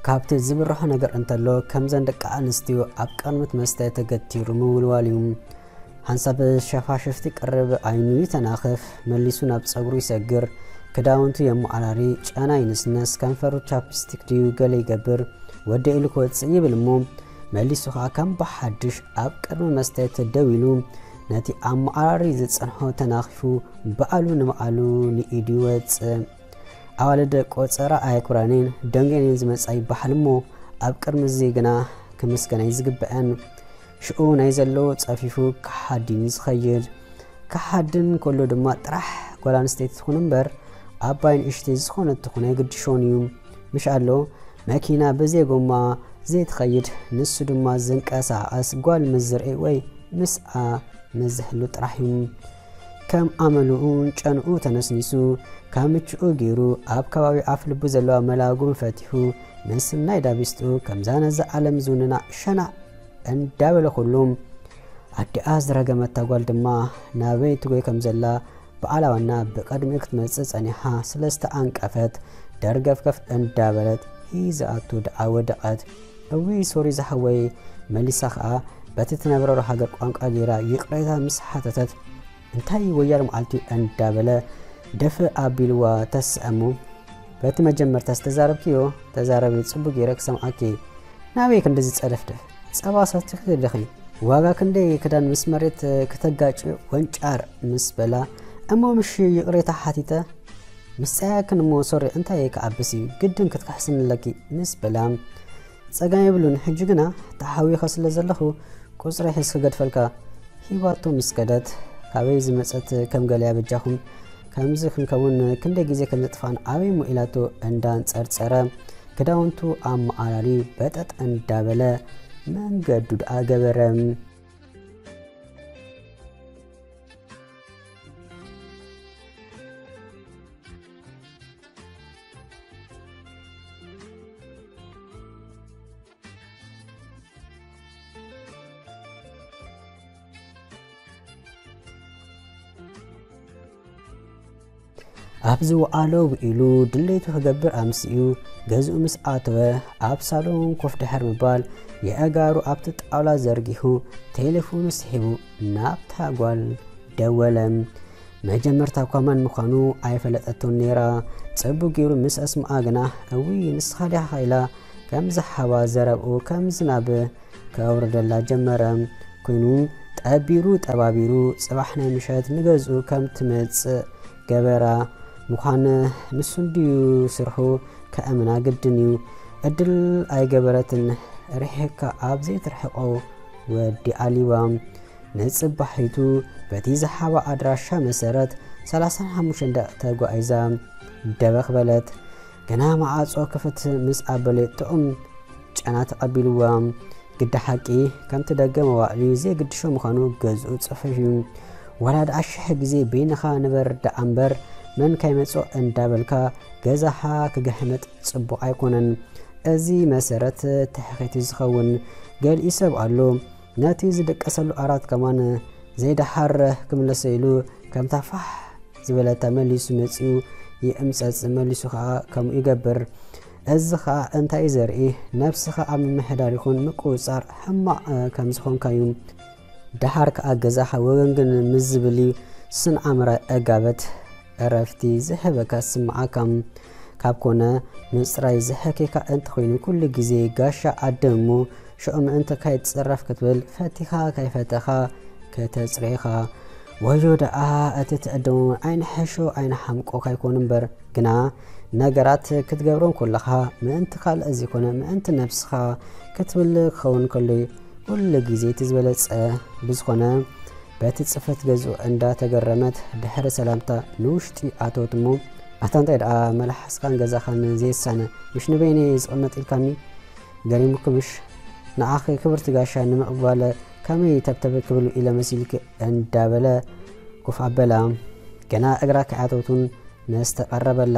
ካብቲ ዝብርሆ ነገር እንተሎ ከምዘን ደቂ ኣንስትዮ ኣብ ቀርኑት መስተ ተገቲሩ ምውልዋል እዩ ሓንሳብ ሸፋሽፍቲ ቅርብ ዓይኑ ይተናኽፍ፣ መሊሱ ናብ ጸጉሩ ይሰግር፣ ክዳውንቱ የመዓራሪ፣ ጨና ይንስነስ፣ ከንፈሩ ቻፕስቲክ ድዩ ገለ ይገብር፣ ወዲኤ ኢሉ ክወጽእ ይብል እሞ መሊሱ ከኣ ከም ብሓድሽ ኣብ ቅድሚ መስትያት ደው ኢሉ ነቲ ኣመዓራሪ ዝጸንሖ ተናኺፉ በኣሉ ንበኣሉ ንኢዱ ይወጽእ። ኣዋልድ ቆጸራ ኣየኩራኔን ደንጌኔን ዝመጻ ይበሓል እሞ ኣብ ቅድሚ እዚ ግና ክምስገና እዩ ዝግበኣን። ሽኡ ናይ ዘሎ ጸፊፉ ክሓዲን እዩ ዝኸይድ። ክሓድን ከሎ ድማ ጥራሕ ጓል ኣንስተይቲ ትኹን እምበር ዓባይ ንእሽተይ ዝኾነት ትኹን ኣይግድሾን እዩ። ምሽ ኣሎ መኪና ብዘይ ጎማ ዘይትኸይድ ንሱ ድማ ዝንቀሳቐስ ጓል ምስ ዝርኢ ወይ ምስኣ ምስ ዝህሉ ጥራሕ እዩ። ከም ኣመሉኡን ጨንኡ ተነስኒሱ ካብ ምችኡ ገይሩ ኣብ ከባቢ ኣፍ ልቡ ዘለዋ መላጉም ፈቲሑ ንስናይ ዳቢስጡ ከምዛ ነዛ ዓለም ዝውንና ሸናዕ እንዳበለ ኩሉ ኣዲኣ ዝረገመታ ጓል ድማ ናበይ ትጎይ ከም ዘላ በዓላ ዋና ብቐድሚኡ ክትመጽእ ጸኒሓ ስለ ዝተኣንቀፈት ደርገፍገፍ እንዳበለት ሂዘኣቱ ደኣ ወደቐት። እውይ ሶሪ ዝሓወይ መሊሳ ከኣ በቲ ትነብረሉ ሃገር ቋንቋ ገይራ ይቕሬታ ምስ ሓተተት እንታይ ወያለ መዓልቲ እንዳበለ ደፈ ኣቢልዋ ተስዐ እሞ በቲ መጀመርታ ዝተዛረብክዮ ተዛረቢ ጽቡቅ ገይረ ክሰምዓኪ ናበይ ክንዲ ዝጸደፍደፍ ጸባ ሰትኺ ኣለኺ ዋጋ ክንደይ ክዳን ምስ መሬት ክተጋጭ ወንጫር ምስ በላ እሞ ምሽ ይቕሬታ ሓቲተ ምስ ጸያክን እሞ ሶሪ እንታይ ክዓብስ እዩ ግድን ክትክሕስኒ ኣለኪ ምስ በላ ጸገም የብሉን ሕጂ ግና ተሓዊኸ ስለ ዘለኹ ቁጽረይ ሕዝ ክገድፈልካ ሂባቶ ምስ ከደት ካበይ ዝመጸት ከም ገለያ በጃኹም ከምዚ ክንከውን ክንደይ ግዜ ከም ዘጥፋን ኣበይ ሞ ኢላቶ እንዳንጸርጸረ ክዳውንቱ ኣመዓራሪ በጠጥ እንዳበለ መንገዱ ደኣ ገበረ ኣብ ዝወዓሎ ውዒሉ ድሌቱ ክገብር ኣምስኡ ገዝኡ ምስ ኣተወ ኣብ ሳሎን ኮፍ ድሕር ምባል የእጋሩ ኣብቲ ጣውላ ዘርጊሑ ቴሌፎኑ ስሒቡ ናብታ ጓል ደወለ መጀመርታ እኳ መን ምዃኑ ኣይፈለጠቶን ነይራ። ጽቡቕ ገይሩ ምስ ኣስምዓ ግና እውይ ንስኻ ዲኻ ኢላ ከም ዝሓባ ዘረብኡ ከም ዝናብ ከውርደላ ጀመረ። ኮይኑ ጠቢሩ ጠባቢሩ ጽባሕ ናይ ምሸት ንገዝኡ ከም ትመጽእ ገበራ። ምዃን ንሱ እንድዩ ስርሑ ከእምና ግድን እዩ። እድል ኣይገበረትን ርሒቕካ ኣብ ዘይትርሕቆ ወዲ ኣሊባ። ንጽባሒቱ በቲ ዝሓባ ኣድራሻ መሰረት ሰላሳን ሓሙሽተን ደቂቕ ተጓዒዛ ደበኽ በለት። ገና መዓጾ ክፍት ምስ ኣበለቶኦም ጨና ተቐቢልዋ። ግዳ ሓቂ ከምቲ ደገ መዋዕሊ ዘይግድሾ ምዃኑ ገዝኡ ጽሑፍ እዩ። ዋላ ደኣ ሽሕ ግዜ በይንኻ ንበር ደኣ እምበር መን ካይመጾ እንዳበልካ ገዛኻ ክግሕምጥ ጽቡቕ ኣይኮነን። እዚ መሰረት ትሕኺት ዝኸውን ገሊኡ ሰብ ኣሎ። ነቲ ዝድቀሰሉ ኣራት ከማን ዘይደሓር ክምለሶ ኢሉ ከምታ ፋሕ ዝበለታ መሊሱ መጺኡ ይእምጸጽ መሊሱ ከኣ ከምኡ ይገብር። እዚ ከኣ እንታይ እዩ ዘርኢ? ነብስኻ ኣብ ምምሕዳር ይኹን ምቁጽጻር ሕማቕ ከም ዝኾንካ እዩ። ደሓር ከኣ ገዛኻ ወገንግን ምስ ዝብል እዩ ስን ኣምራይ ዕጋበት ዕረፍቲ ዝህበካ ዝስምዓካ ካብ ኮነ ምጽራይ ዝሕኬካ እንተኾይኑ ኩሉ ግዜ ጋሻ ኣድም እሞ ሽዑ ምእንቲ ከይትጽረፍ ክትብል ፈቲኻ ከይፈተኻ ከተጽርየኻ ወዮ ደኣ እቲ ትዕድሞ ኣይንሕሾ ኣይንሓምቆ ካይኮኑ እምበር ግና ነገራት ክትገብሮም ኮለኻ ምእንቲ ካልእ ዘይኮነ ምእንቲ ነብስኻ ክትብል ክኸውን ከሎ ኩሉ ግዜ እቲ ዝበለጸ ብዝኾነ በቲ ጽፈት ገዝኡ እንዳ ተገረመት ድሕሪ ሰላምታ ንውሽጢ ኣተወት እሞ ኣታ እንታይ ደኣ መልሓስካን ገዛኻን ዘየሳነ ምሽ ንበይነይ ዝቕመጥ ኢልካኒ ገሪሙኪ ምሽ ንዓኺ ክብርቲ ጋሻ ንምቕባለ ከመይ ተብተብ ክብል ኢለ መሲልኪ እንዳበለ ኩፍ ኣበላ ገና እግራ ከያተውቱን መስተ ቀረበላ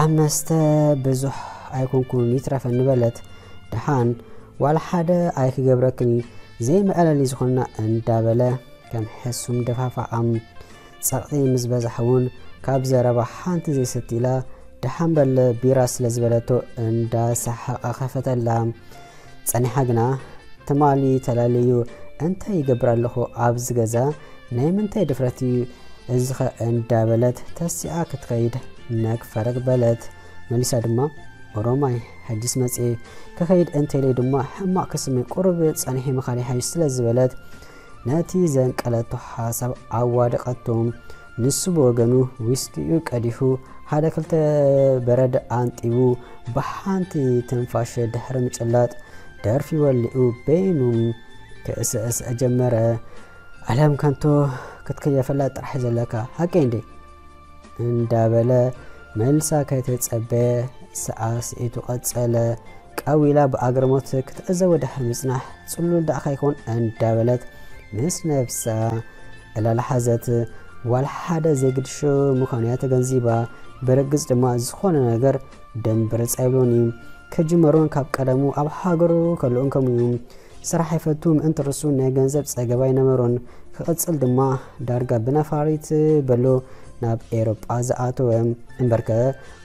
ኣብ መስተ ብዙሕ ኣይኮንኩን ይትረፈኒ በለት ድሓን ዋላ ሓደ ኣይክገብረክን ዘይመዕለሊ ዝኾንና እንዳበለ ከም ሕሱም ደፋፋኣም ጸቕጢ ምስ በዝሓ ውን ካብ ዘረባ ሓንቲ ዘይሰቲ ኢላ ደሓን በል ቢራ ስለ ዝበለቶ እንዳ ሰሓቐ ከፈተላ ጸኒሓ ግና ትማሊ ተላለዩ እንታይ ይገብር ኣለኹ ኣብዚ ገዛ ናይ ምንታይ ድፍረት እዩ እዚኸ እንዳበለት ተሲኣ ክትከይድ ነግፈረግ በለት። መሊሳ ድማ ኦሮማይ ሕጅስ መጽኤ ክኸይድ እንተኢለይ ድማ ሕማቕ ክስመይ ቁሩብ ጸኒሒ ምኻድ ይሓይሽ ስለ ዝበለት ነቲ ዘንቀለቶ ሓሳብ ኣዋደቐቶ። ንሱ ብወገኑ ዊስኪኡ ቀዲሑ ሓደ ክልተ በረድ ኣንጢቡ ብሓንቲ ትንፋሸ ድሕሪ ምጭላጥ ደርፊ ወሊኡ በይኑ ክእሰእሰ ጀመረ። ዓለም ከንቶ ክትከየፈላ ጥራሕ ዘለካ ሃቂ እንዴ እንዳበለ መልሳ ከይተጸበየ ሰዓስዒቱ ቀጸለ። ቀው ኢላ ብኣግርሞት ክትዕዘቦ ድሕሪ ምጽናሕ ጽሉል ደኣ ከይኮን እንዳበለት ምስ ነብሳ ዕላል ሓዘት። ጓል ሓደ ዘይግድሾ ምዃኑ እያ ተገንዚባ። ብርግጽ ድማ ዝኾነ ነገር ደምብርጽ ኣይብሎን እዩ። ክጅመሩን ካብ ቀደሙ ኣብ ሃገሩ ከለኡን ከምኡ እዩ። ስራሕ ይፈቱ ምእንቲ ርሱን ናይ ገንዘብ ጸገብ ኣይነበሮን። ክቕጽል ድማ ዳርጋ ብነፋሪት በሎ ናብ ኤሮጳ ዝኣተወ። እምበርከ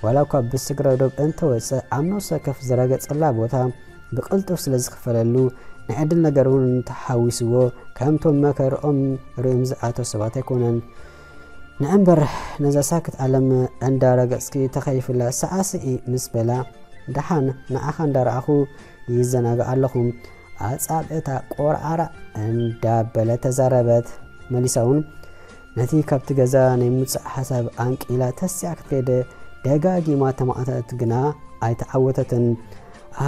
ዋላ እኳ ብስግረ ዶብ እንተወጸ ኣብ ነፍሰ ከፍ ዝረገጸላ ቦታ ብቕልጡፍ ስለ ዝኽፈለሉ ናይ ዕድል ነገር እውን ተሓዊስዎ ከምቶም መከርኦም ርእዮም ዝኣተው ሰባት ኣይኮነን። ንእምበር ነዛ ሳክት ዓለም እንዳረገጽኪ ተኸይፍላ ሰዓስዒ ምስ በላ ደሓን ንዓኻ እንዳረኣኹ ይዘናጋዕ ኣለኹም ኣጻብዕታ ቆርዓራ እንዳበለ ተዛረበት መሊሳ እውን ነቲ ካብቲ ገዛ ናይ ምውፃእ ሓሳብ ኣንቂላ ተሲኣ ክትከደ ደጋጊማ ተማእተት ግና ኣይተዓወተትን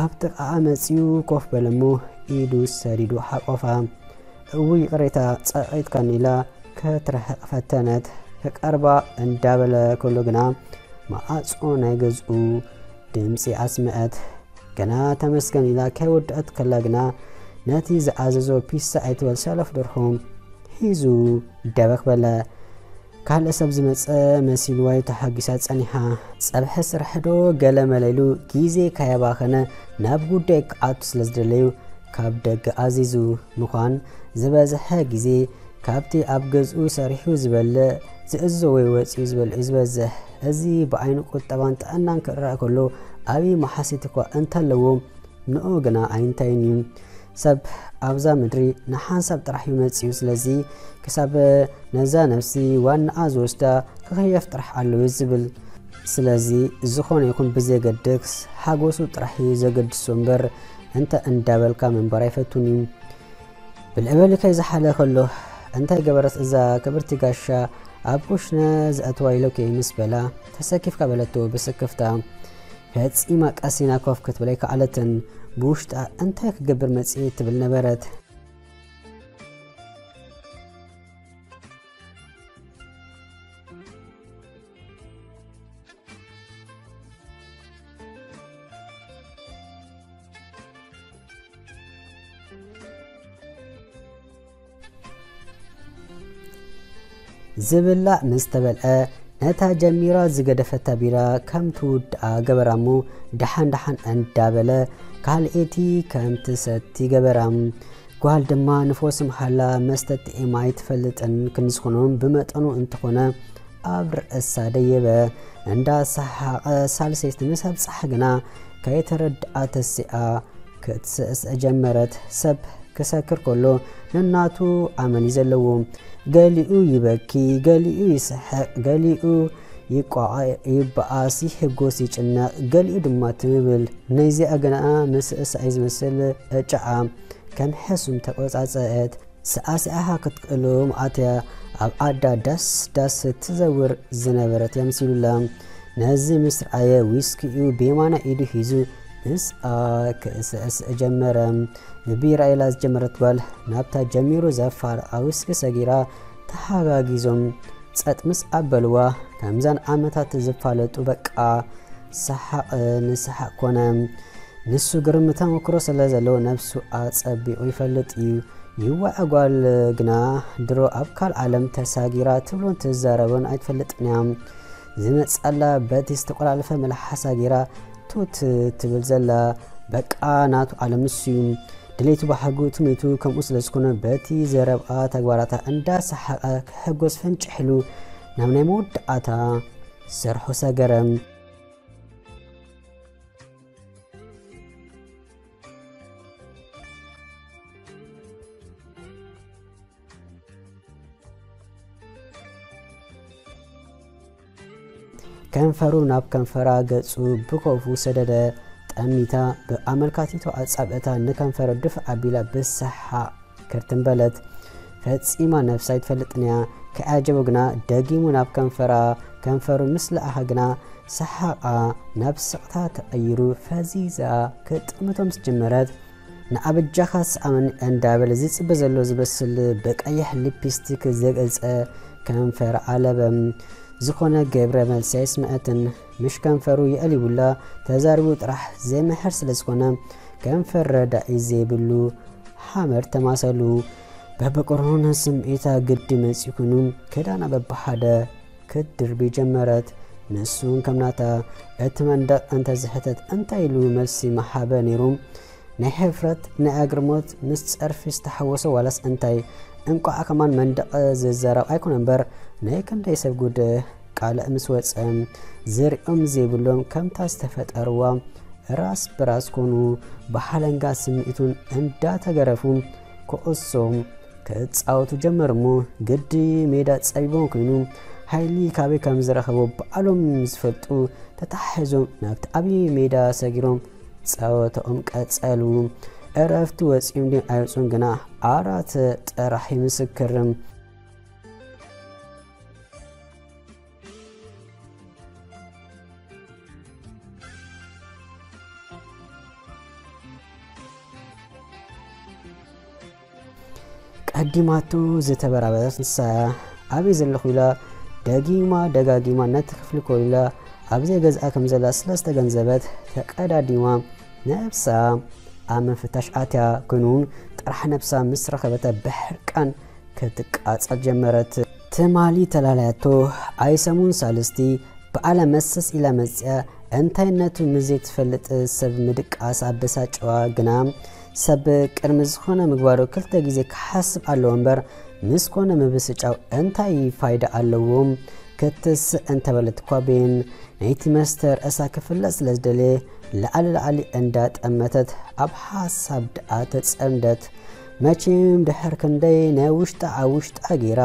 ኣብ ጥቃኣ መፅኡ ኮፍ በለሞ ኢዱ ሰዲዱ ሓቆፋ እው ይቅሬታ ጸቂጥካኒ ኢላ ከትረሕቕ ፈተነት ክቀርባ እንዳበለ ከሎ ግና መዓፆ ናይ ገዝኡ ድምፂ ኣስምዐት ገና ተመስገን ኢላ ከይወደኣት ከላ ግና ነቲ ዝኣዘዞ ፒሳ ኣይትበል ሰለፍ ደርሆ ሒዙ ደበኽ በለ። ካልእ ሰብ ዝመጸ መሲልዋይ ተሓጊሳ ጸኒሓ ጸብሐ ስራሕዶ ገለ መለሉ ግዜ ካየባኸነ ናብ ጉዳይ ክኣቱ ስለ ዝደለዩ ካብ ደገ ኣዚዙ ምዃን ዝበዝሐ ግዜ ካብቲ ኣብ ገዝኡ ሰሪሑ ዝበልዕ፣ ዝእዝዞ ወይ ወጺኡ ዝበልዕ እዩ ዝበዝሕ። እዚ ብዓይኒ ቁጠባን ጥዕናን ክርኣ ከሎ ዓቢ መሓሲት እኳ እንተለዎ፣ ንኡ ግና ኣይንታይን እዩ። ሰብ ኣብዛ ምድሪ ንሓንሳብ ጥራሕ እዩ መጺኡ፣ ስለዚ ክሳብ ነዛ ነፍሲ ዋናኣ ዝወስዳ ክኽየፍ ጥራሕ ኣለዎ እዩ ዝብል። ስለዚ ዝኾነ ይኹን ብዘየገድስ ሓጎሱ ጥራሕ እዩ ዘገድሶ እምበር እንታይ እንዳበልካ ምንባር ኣይፈቱን እዩ። ብልዕበሊ ከይዝሓለ ከሎ እንታይ ገበረት እዛ ክብርቲ ጋሻ ኣብ ኩሽነ ዝኣትዋ ኢሎኪ ምስ በላ ተሰኪፍካ በለቶ ብስክፍታ ፈጺማ ቀሲና ኮፍ ክትብል ኣይከኣለትን ብውሽጣ እንታይ ክገብር መጽኤ ትብል ነበረት ዝብላዕ ምስ ተበልዐ ነታ ጀሚራ ዝገደፈታ ቢራ ከም ትውድኣ ገበራ እሞ ደሓን ደሓን እንዳበለ ካልኤቲ ከም ትሰቲ ገበራ ጓል ድማ ንፎስ ምሓላ መስተትኤ ማይ ትፈልጥን ክንዝኹኑን ብመጠኑ እንተኾነ ኣብ ርእሳ ደየበ እንዳ ሰሓቐ ሳልሰይቲ ምስ ኣብጽሓ ግና ከይተረድኣ ተሲኣ ክትስእስዕ ጀመረት። ሰብ ክሰክር ከሎ ነናቱ ኣመን እዩ ዘለዎ። ገሊኡ ይበኪ፣ ገሊኡ ይስሕቕ፣ ገሊኡ ይቋዕ ይበኣስ ይሕጎስ ይጭነቕ ገሊኡ ድማ ትም ብል ነይዚኣ ግና ምስእሳይ ዝመስል ዕጫኣ ከም ሕሱም ተቆጻጸአት ሰኣሲዓኻ ክትቅልም ኣትያ ኣብ ዓዳ ዳስ ዳስ ትዘውር ዝነበረት የምሲሉላ ነዚ ምስ ረኣየ ዊስኪኡ ብየማና ኢዱ ሒዙ ምስኣ ክእስእስ ጀመረ ብቢራ ኢላ ዝጀመረት ጓል ናብታ ጀሚሩ ዘፋር ኣውስኪ ሰጊራ ተሓጋጊዞም ጸጥ ምስ ኣበልዋ ከምዘን ዓመታት ዝፋለጡ በቃ ሰሓቕ ንሰሓቕ ኮነ። ንሱ ግርም ተመክሮ ስለ ዘለዎ ነብሱ ኣጸቢቑ ይፈልጥ እዩ። ይዋዕ ጓል ግና ድሮ ኣብ ካልእ ዓለም ተሳጊራ ትብሎን ትዛረቦን ኣይትፈልጥን እያ። ዝመጽኣላ በቲ ዝተቆላለፈ መልሓሳ ጌራ ቱት ትብል ዘላ በቃ ናቱ ዓለም ንሱዩ ድሌቱ ባህጉ ትምኒቱ ከምኡ ስለ ዝኾነ በቲ ዘረብኣ ተግባራታ እንዳሰሓቐ ክሕጎስ ፈንጭሕሉ ናብ ናይ መወዳእታ ሰርሖ ሰገረም ከንፈሩ ናብ ከንፈራ ገጹ ብኮፉ ሰደደ። ጠሚታ ብኣመልካቲቶ ኣጻብዕታ ንከንፈሩ ድፍ ኣቢላ ብሰሓቕ ክርትን በለት። ፈጺማ ነፍሲ ኣይትፈልጥን እያ። ከይዓጀቦ ግና ደጊሙ ናብ ከንፈራ ከንፈሩ ምስ ለኣኻ ግና ሰሓቓ ናብ ስቕታ ተቐይሩ ፈዚዛ ክጥምቶ ምስ ጀመረት ንኣበጃኻ ስኣን እንዳበለ ዝጽበ ዘሎ ዝመስል ብቀይሕ ሊፒስቲክ ዘገልጸ ከንፈር ኣለበ። ዝኾነ ገብረ መልሲ ኣይስምዐትን። ምሽ ከንፈሩ የእልዩላ ተዛሪቡ ጥራሕ ዘይምሕር ስለ ዝኾነ ከንፈር ረዳኢ ዘይብሉ ሓመድ ተማሰሉ። በብቁሩን ስምዒታ ግዲ መጺኡ ኩኑ ክዳና በብሓደ ክትድርቢ ጀመረት። ንሱ ከም ናታ እቲ መንደቕ እንተ ዝሕተት እንታይ ኢሉ መልሲ ምሃበ ነይሩ? ናይ ሕፍረት ናይ ኣግርሞት ምስ ጸርፊ ዝተሓወሶ ዋላስ እንታይ? እንቋዕ ከማን መንደቕ ዝዛረብ ኣይኮነ እምበር ናይ ክንደይ ሰብ ጉድ ቃልዕ ምስ ወጸ ዝሪኦም ዘይብሎም ከምታ ዝተፈጠርዋ ራስ ብራስ ኮኑ ብሓለንጋ ስምዒቱን እንዳተገረፉ ኩዕሶ ክጻወቱ ጀመሩ እሞ ግዲ ሜዳ ጸቢቦም ኮይኑ ሓይሊ ካበይ ከም ዝረኸቡ ባዕሎም ዝፈልጡ ተታሒዞም ናብቲ ዓብዪ ሜዳ ሰጊሮም ጸወታኦም ቀጸሉ። እረፍቲ ወፂኦም ድዮም ኣይወፁን ግና ኣራት ጥራሕ ይምስክር። ቀዲማቶ ዝተበራበረት ንሳ እያ ኣበይ ዘለኹ ኢላ ደጊማ ደጋጊማ ነቲ ክፍሊ ኮይላ ኣብ ዘይገዝኣ ከም ዘላ ስለ ዝተገንዘበት ተቀዳዲማ ነብሳ ኣብ ምፍታሽ ኣትያ ኮይኑ ጥራሕ ነብሳ ምስ ረኸበታ ብሕርቃን ክትቃጸል ጀመረት። ትማሊ ተላልያቶ ኣይ ሰሙን ሳልስቲ ብኣላ መሰስ ኢላ መጺኣ እንታይነቱ ንዘይትፈልጥ ሰብ ምድቃስ ኣበሳጭዋ ግና ሰብ ቅድሚ ዝኾነ ምግባሩ ክልተ ግዜ ክሓስብ ኣለዎ እምበር ምስ ኮነ ምብስጫው እንታይ ፋይዳ ኣለዎ ክትስእ እንተበለት እኳ ቤን ነይቲ መስተ ርእሳ ክፍለጥ ስለ ዝደለየ ላዕሊ ላዕሊ እንዳጠመተት ኣብ ሓሳብ ደኣ ተጸምደት መቼም ድሕር ክንደይ ናይ ውሽጣ ኣብ ውሽጣ ጌራ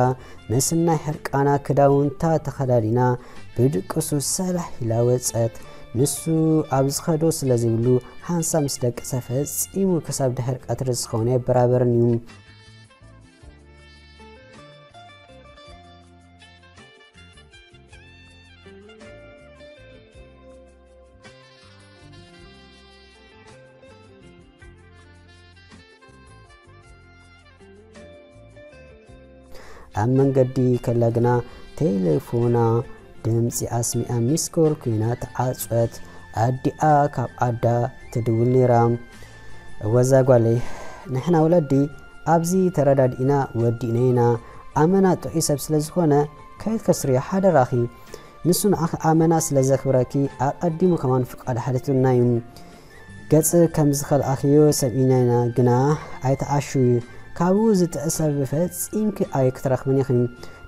ምስናይ ሕርቃና ክዳውንታ ተኸዳዲና ብድቅሱ ሰላሕ ኢላ ወጸት። ንሱ ኣብ ዝኸዶ ስለ ዘይብሉ ሃንሳ ምስ ደቀሰ ፈጺሙ ክሳብ ድሕር ቀትሪ ዝኸውን ኣይበራበርን እዩ። ኣብ መንገዲ ከላ ግና ቴሌፎና ድምፂ ኣስሚኣ ሚስኮል ኮይና ተዓፀት ኣዲኣ ካብ ዓዳ ትድውል ነይራ ወዛ ጓለይ ንሕና ወለዲ ኣብዚ ተረዳድኢና ወዲእና ኢና ኣመና ጥዑይ ሰብ ስለ ዝኾነ ከይትከስርዮ ሓደራኺ ንሱ ንዓኺ ኣመና ስለ ዘኽብረኪ ኣቐዲሙ ከማን ፍቃድ ሓሊቱና እዩ ገጽ ከም ዝኸልኣክዮ ሰሚእና ኢና ግና ኣይትዓሹ ካብኡ ዝጥዕ ሰብ ፈጺምኪ ኣይክትረኽብን ኢኺ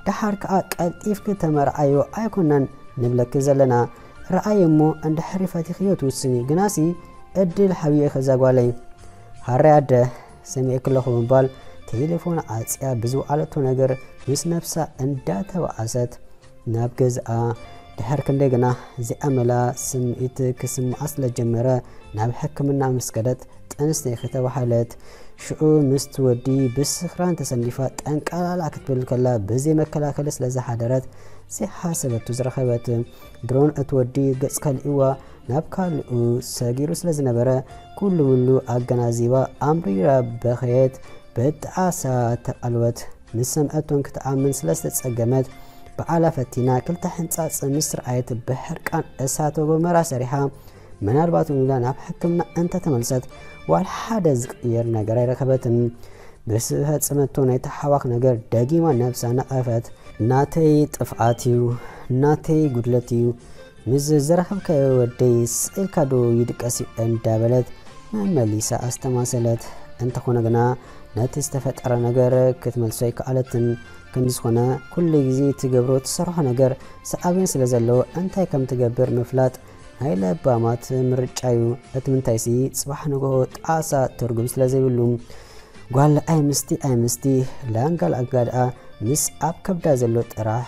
ደሓር ከኣ ቀልጢፍኪ ተመርዓዮ ኣይኮናን ንብለኪ ዘለና ረኣየ እሞ እንድሕሪ ፈቲኽዮ ትውስኒ ግናሲ ዕድል ሓብዮ ኢኺ ዛጓለይ ሃራይ ኣደ ሰሚዕኪ ኣለኹ ምባል ቴሌፎን ዓጽያ ብዝወዓለቶ ነገር ምስ ነብሳ እንዳተባኣሰት ናብ ገዝኣ ድሕር ክንደይ ግና ዚኣመላ ስምዒት ክስምዓ ስለ ጀመረ ናብ ሕክምና ምስ ከደት ጥንስተይ ከተባሃለት ሽዑ ምስቲ ወዲ ብስኽራን ተሰንዲፋ ጠንቃላላ ክትብል ከላ ብዘይ መከላከሊ ስለ ዝሓደረት ዘይሓሰበቱ ዝረኸበት ድሮን እቲ ወዲ ገጽ ከልእዋ ናብ ካልኡ ሰጊሩ ስለ ዝነበረ ኩሉ ምሉ ኣገናዚባ ኣምሪራ በኸየት በጣዓሳ ተቐልወት ምስ ሰምዐቶን ክትኣምን ስለ ዝተጸገመት፣ ብዓላ ፈቲና ክልተ ሕንጻጽ ምስ ትርኣየት ብሕርቃን እሳተ ጎመራ ሰሪሓ ምናልባት'ውን ኢላ ናብ ሕክምና እንተ ተመልሰት ዋላ ሓደ ዝቕየር ነገር ኣይረኸበትን። ምስ ፈጸመቶ ናይ ተሓዋኽ ነገር ደጊማ ነብሳ ነቐፈት። ናተይ ጥፍኣት እዩ፣ ናተይ ጉድለት እዩ፣ ንዚ ዝረኸብካዮ ወደይ ስቕ ኢልካ ዶ ይድቀስ እዩ እንዳበለት መመሊሳ ኣስተማሰለት። እንተኾነ ግና ነቲ ዝተፈጠረ ነገር ክትመልሶ ኣይከኣለትን። ክንዲ ዝኾነ ኩሉ ግዜ ትገብሮ ትሰርሖ ነገር ሰኣቢን ስለ ዘለዎ እንታይ ከም ትገብር ምፍላጥ ናይ ለባማት ምርጫ እዩ። እቲ ምንታይሲ ጽባሕ ንግሆ ጣዕሳ ትርጉም ስለ ዘይብሉ ጓል ኣይምስቲ ኣይምስቲ ላንጋ ላንጋ ደኣ ምስ ኣብ ከብዳ ዘሎ ጥራሕ